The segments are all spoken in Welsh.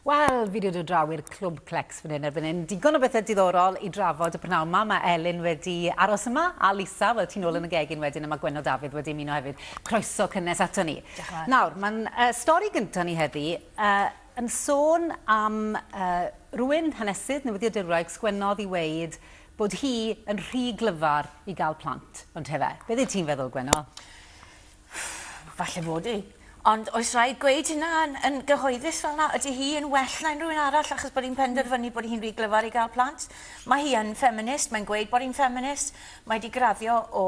Wel, fi 'di dod draw i'r Clwb Clecs fan hyn erbyn hyn. Digon o bethau diddorol i drafod y prynawn yma. Mae Elin wedi aros yma, a Lisa, wel, ti'n ôl yn y gegin wedyn, a mae Gwenno Dafydd wedi ymuno hefyd. Croeso cynnes ato ni. Nawr, mae'n uh, stori gyntaf ni heddi uh, yn sôn am uh, rwy'n hanesydd newyddiadurwraig sgwennodd i weid bod hi yn rhy glyfar i gael plant, ond hefe. Beth ydy ti'n feddwl, Gwenno? Ff, falle fod hi. Ond oes rhaid gweud hynna yn, yn gyhoeddus fel yna? Ydy hi yn well na unrhyw un arall achos bod hi'n penderfynu bod hi'n rhy glyfar i gael plant? Mae hi yn ffeminist, mae'n gweud bod hi'n ffeminist, mae wedi graddio o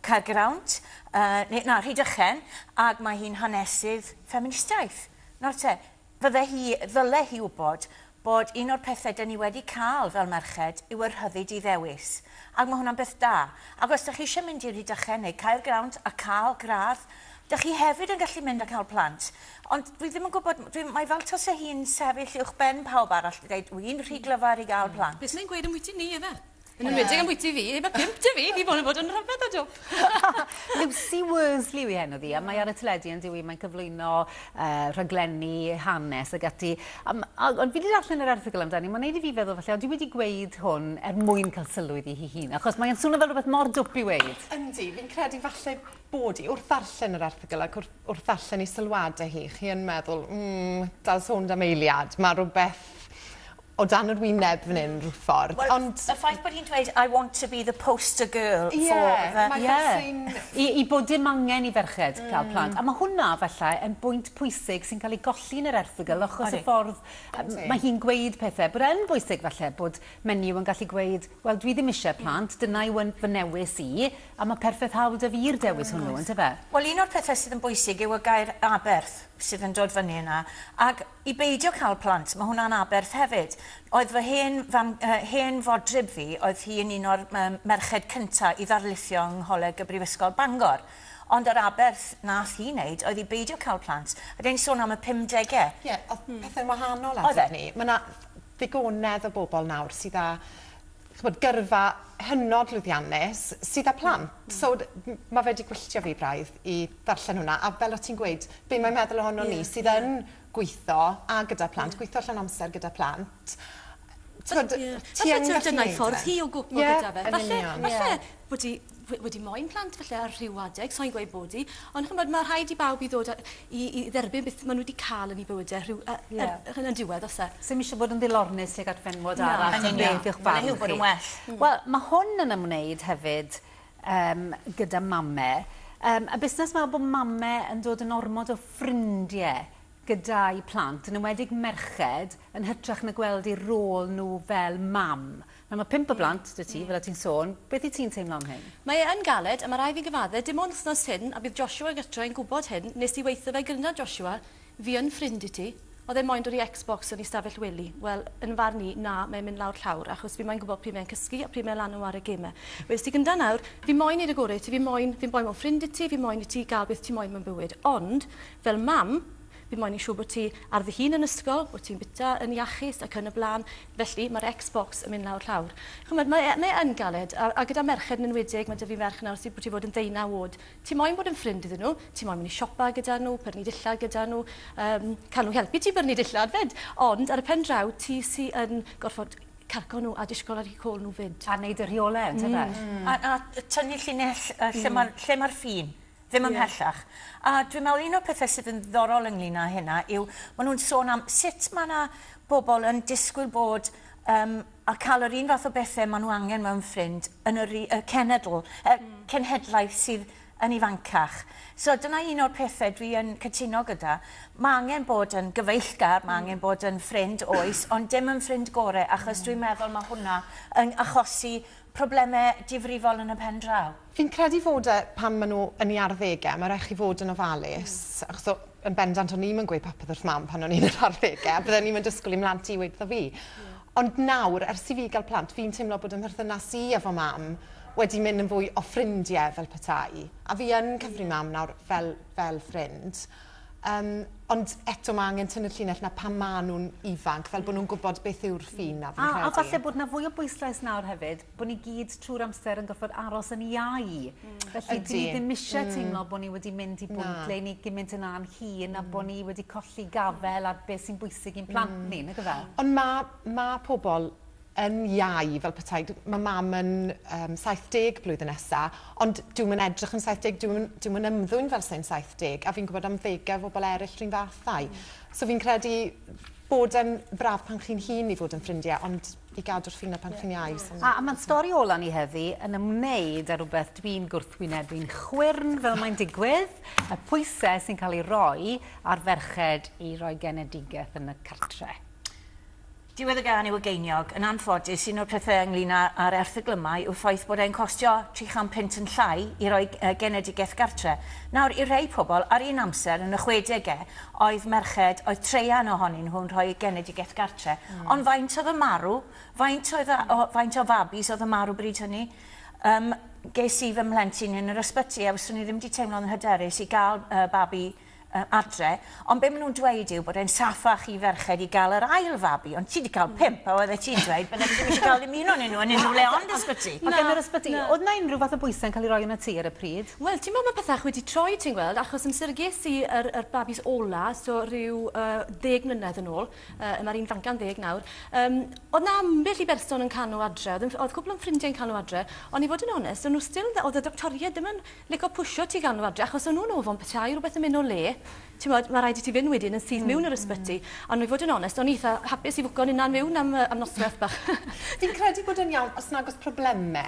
Caergrawnt, uh, na, Rhydychen, ac mae hi'n hanesydd ffeministiaeth. Nawr te, Fydde hi, ddyle hi wybod bod un o'r pethe dyn ni wedi cael fel merched yw y rhyddid i ddewis, ac mae hwnna'n beth da. Ac os dych chi eisiau mynd i Rhydychen neu Caergrawnt a cael gradd, dych chi hefyd yn gallu mynd a cael plant. Ond dwi ddim yn gwybod, dwi, mae fel tase hi'n sefyll uwchben pawb arall i ddeud, 'wi'n rhy glyfar i gael plant'. Beth mae'n gweud ambwyty ni, ife? Yn enwedig am bwyty fi, mae pimp dy fi, fi bod yn bod yn rhyfedd o job. Lucy Worsley yw heno ddi, a mae ar y teledu yn diwy, mae'n cyflwyno uh, rhaglenni, hanes ag ati. Um, ond fi wedi darllen yr erthigol amdani, mae'n neud i fi feddwl falle, ond dwi wedi gweud hwn er mwyn cael sylwyd i hi hun, achos mae'n swnio fel rhywbeth mor dwp i weid. Yndi, fi'n credu falle bod i wrth ddarllen yr erthigol ac wrth, wrth ddarllen i sylwadau hi, chi yn meddwl, mm, dal sôn am eiliad, mae rhywbeth o dan yr wyneb fan hyn rhyw ffordd. Wel, y ffaith bod hi'n dweud I want to be the poster girl for the... Ie, mae hynna sy'n... Ie, i bod dim angen i ferched cael plant. A mae hwnna, efallai, yn bwynt pwysig sy'n cael ei golli yn yr erthygl achos y ffordd mae hi'n gweud pethau. Bod e yn bwysig, efallai, bod menyw yn gallu gweud, wel, dwi ddim eisiau plant, dyna yw fy newis i, a mae perffaith hawl 'da fi'r dewis hwnnw, yndyfe? Wel, un o'r pethau sydd yn bwysig yw y gair 'aberth' sydd yn dod fyny yna, ac I beidio cael plant, mae hwnna'n aberth hefyd. Oedd fy hen fam, yy, hen fodryb fi, oedd hi yn un o'r, yym, merched cynta' i ddarlithio yng Ngholeg y Brifysgol Bangor. Ond yr aberth nath hi neud oedd i beidio cael plant, a dyn ni'n sôn am y pumdege. Ie, o'dd pethe'n wahanol adeg 'ny. Oedd e. Ma' 'na ddigonedd o bobol nawr sydd â t'mod gyrfa hynod lwyddiannus sydd â plant. So ma' fe 'di gwylltio fi braidd i ddarllen hwnna a fel o' ti'n gweud be' mae'n meddwl ohonon ni sydd yn gwitho a gyda plant gwitho llawn amser gyda plant t'mod ti yn gallu neud e. Falle t'mod dyna'i ffordd hi o gwpio gyda fe. Falle falle wedi, wedi moyn plant falle ar rhyw adeg, so'n gweud bod i, ond chymod, mae rhaid i bawb i ddod a, i, i dderbyn beth maen nhw wedi cael yn ei bywydau e, rhyw, a, yeah. a, er, yn y diwedd, os e. Sym eisiau bod yn ddilornus ag at fenwod no, arall, yn beth yw'ch barn chi. bod yn well. Mm. Wel, mae hwn yn ymwneud hefyd um, gyda mame. Um, a busnes mae bod mame yn dod yn ormod o ffrindiau gyda'i plant, yn ymwedig merched, yn hytrach na gweld eu rôl nhw fel mam. Nawr mae pump o blant 'da ti, fel o' ti'n sôn, beth wyt ti'n teimlo am hyn? Mae e yn galed, a mae rhaid fi gyfadde, dim ond wthnos hyn, a bydd Joshua gytre yn gwbod hyn, nes di weitho fe gynna Joshua, fi yn ffrind i ti, odd e moyn dod i Xbox yn ei stafell wely, wel, yn farn i, na, mae e'n mynd lawr llawr, achos fi moyn gwbod pryd mae e'n cysgu, a pryd mae e lan yn ware geme. Wedest ti gynta nawr, fi moyn neud y gore i ti, fi moyn, fi'n boi mor ffrind i ti, fi moyn i ti ga'l beth ti moyn mewn bywyd, ond, fel mam, fi moyn neud siŵr bod ti ar dy hun yn ysgol, bod ti'n bita yn iachus, ac yn y bla'n, Felly, mae'r Xbox yn mynd lawr llawr. Chimod, mae e, mae e yn galed. A, a gyda merched yn enwedig, mae 'da fi merch nawr sydd wedi bod yn ddeunaw o'd. Ti moyn bod yn ffrind iddyn nhw, ti moyn mynd i siopa gyda nhw, pyrnu dillad gyda nhw, um, cael nhw helpu ti byrnu dillad 'fyd. Ond, ar y pen draw, ti sy yn gorfod cargo nhw a disgwyl ar eu côl nhw 'fyd. A wneud y rheolau, yntyfe? Mm. A, a tynnu llinell yy lle ma'r, lle ma'r ffin. Ddim ymhellach. A dwi'n meddwl un o'r pethau sydd yn ddiddorol ynglyn â hynna yw, maen nhw'n sôn am sut mae yna bobl yn disgwyl bod um, a cael yr un fath o bethau maen nhw angen mewn ffrind yn yr y cenedl, y mm. cenhedlaeth sydd yn ifancach. So dyna un o'r pethau dwi yn cytuno gyda. Mae angen bod yn gyfeillgar, mae mm. angen bod yn ffrind oes, ond dim yn ffrind gorau, achos mm. dwi'n meddwl mae hwnna yn achosi problemau difrifol yn y pen draw. Fi'n credu fod e pan maen nhw yn ei arddegau, mae'n rhaid chi fod yn ofalus. Mm. Achos o, yn bendant o'n i'm yn gweud popeth wrth mam pan o'n i'n yr arddegau, a bydden i'm yn disgwyl i mhlant i weud wrtho fi. Mm. Ond nawr, ers i fi gael plant, fi'n teimlo bod yn mherthynas i efo mam wedi mynd yn fwy o ffrindiau fel petai. A fi yn cyfri mam nawr fel, fel ffrind. Um, ond eto mae angen tynnu'r llinell na pan maen nhw'n ifanc, fel bod nhw'n gwybod beth yw'r ffin na fi'n credu. A, a falle bod na fwy o bwyslais nawr hefyd, bod ni gyd trwy'r amser yn gorfod aros yn iau. Mm. Felly Ydy. dwi ddim eisiau mm. teimlo bod ni wedi mynd i bwynt ble ni gymaint yn a'n hun a bod ni wedi colli gafel ar beth sy'n bwysig i'n plant mm. ni, nag yfe? Ond mae ma pobl yn iau fel petai. Mae mam yn um, 70 blwyddyn nesa, ond dwi'n mynd edrych yn 70, dwi'n dwi mynd ymddwyn fel sy'n 70, a fi'n gwybod am ddegau o bobl eraill rhywun fathau. Mm. So fi'n credu bod yn braf pan chi'n hun i fod yn ffrindiau, ond i gadw'r ffina pan chi'n iau. So A mae'n stori ola ni heddi yn ymwneud â rhywbeth dwi'n gwrthwynebu'n chwyrn fel mae'n digwydd, y pwysau sy'n cael ei roi ar ferched i roi genedigaeth yn y cartre. Diwedd y gan yw y geiniog. Yn anffodus, un o'r pethau ynglyn â, â'r erthygl yma yw'r ffaith bod e'n costio 300 punt yn llai i roi uh, genedigaeth gartre. Nawr, i'r rhai pobl, ar un amser yn y chwedegau, oedd merched, oedd traean ohonyn nhw'n rhoi eu genedigaeth gartre'. Ond faint oedd yn marw? Faint oedd a- o... faint o fabis oedd yn marw bryd hynny? Yym, ges i fy mhlentyn yn yr ysbyty a fyswn i ddim 'di teimlo'n hyderus i gael yy babi yy adre', ond be' ma' nhw'n dweud yw bod e'n saffach i ferched i gael yr ail fabi, ond ti 'di cael pump a oeddet ti'n dweud byddet ti ddim isie cael dim un onyn nhw yn unrhyw le ond ysbyty! Ac yn yr ysbyty, oedd 'na unrhyw fath o bwysau'n cael ei roi arnat ti ar y pryd? Wel ti'n gwbod ma pethach wedi troi ti'n gweld achos amser ges i yr yr babis ola so ryw yy ddeg mlynedd yn ôl yy ma'r un fanca'n ddeg nawr yym o'dd 'na ambell i berson yn cano adre o'dd yn o'dd cwpwl o'n ffrindie yn cano adre on' i fod yn onest o'n nw still yn fe- o'dd y doctoried ddim yn lico pwsio ti gano adre achos o'n nw'n ofon petai rwbeth yn myn' o le t'mod ma' raid i ti fyn' wedyn yn syth miwn i'r ysbyty on' i fod yn onest o'n i itha hapus i fwco'n 'unan miwn am yy am nosweth bach. Fi'n credu bod e'n iawn os nag o's probleme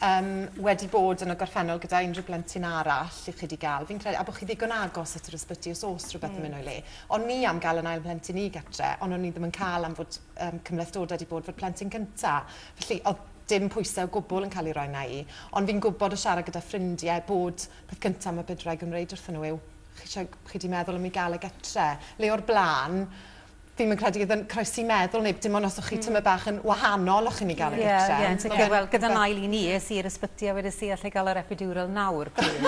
Yym, wedi bod yn y gorffennol gyda unrhyw blentyn arall i chi wedi gael, fi'n credu, a bod chi ddigon agos at yr ysbyty os oes rhywbeth yn mynd o'i le. O'n ni am gael yn ail mhlentyn i gytre, ond o'n ni ddim yn cael am fod um, cymhlethdodau wedi bod fod plentyn cynta. Felly, oedd dim pwysau o gwbl yn cael ei roi na i. Ond fi'n gwybod o siarad gyda ffrindiau bod peth cyntaf mae bydwraig yn wneud wrthyn nhw yw chi, chi wedi meddwl am i gael y gytre. Le o'r blaen, Fi'm yn credu iddyn croesi meddwl neb dim ond os o'ch chi tymed bach yn wahanol o'ch chi'n mynd i gael y gytre. Ie, ie, yn sicr. Wel, gyda'n ail un i, es i i'r ysbyty a wedes i, alla i gael yr epidural nawr plîs?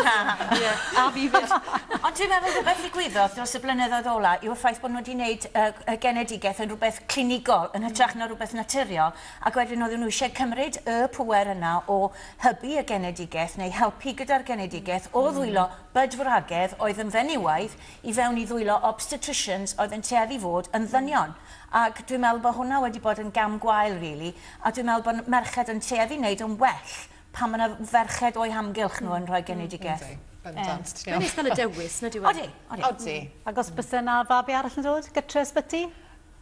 Ie, a fi 'fyd. Ond dwi'n meddwl rhywbeth ddigwyddodd dros y blynyddoedd ola' yw'r ffaith bod nhw wedi wneud y y genedigaeth yn rhywbeth clinigol yn hytrach na rhywbeth naturiol ac wedyn oedden nhw eisiau cymryd y pŵer yna o hybu y genedigaeth neu helpu gyda'r genedigaeth o ddwylo bydwragedd oedd yn fenywaidd i fewn i ddwylo obstetricians oedd yn tueddu fod yn ddynion ac dwi'n meddwl bod hwnna wedi bod yn gam gwael rili a dwi'n meddwl bod merched yn tueddu wneud yn well pan mae 'na ferched o'u hamgylch nhw yn rhoi genedigaeth. Yndi, bendant. Ie. Mae'n neis cael y dewis, nid yw e? Odi, odi. Odi. Ac os byse 'na fabi arall yn dod gytre ysbyty?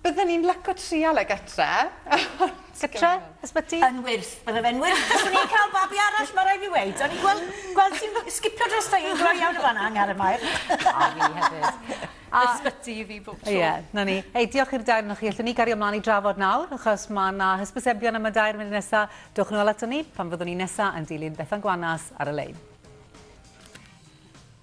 Bydden i'n lyco trial e gytre ond... Gytre? Ysbyty? Yn wyrth, bydde fe'n wyrth fyswn i'n cael babi arall ma raid fi weud, o'n i'n gweld gweld ti'n sgipio drosta i yn gloi iawn yn fan 'na Angharad Mair. A fi hefyd. Ysbyty i fi bob tro. Ie, 'na ni. Hei, diolch i'r dair onoch chi. Allwn ni gario mlan i drafod nawr, achos ma' 'na hysbysebion am y dair yn mynd nesa. Dowch nôl aton ni pan fyddwn ni nesa yn dilyn Bethan Gwanas ar y Lein.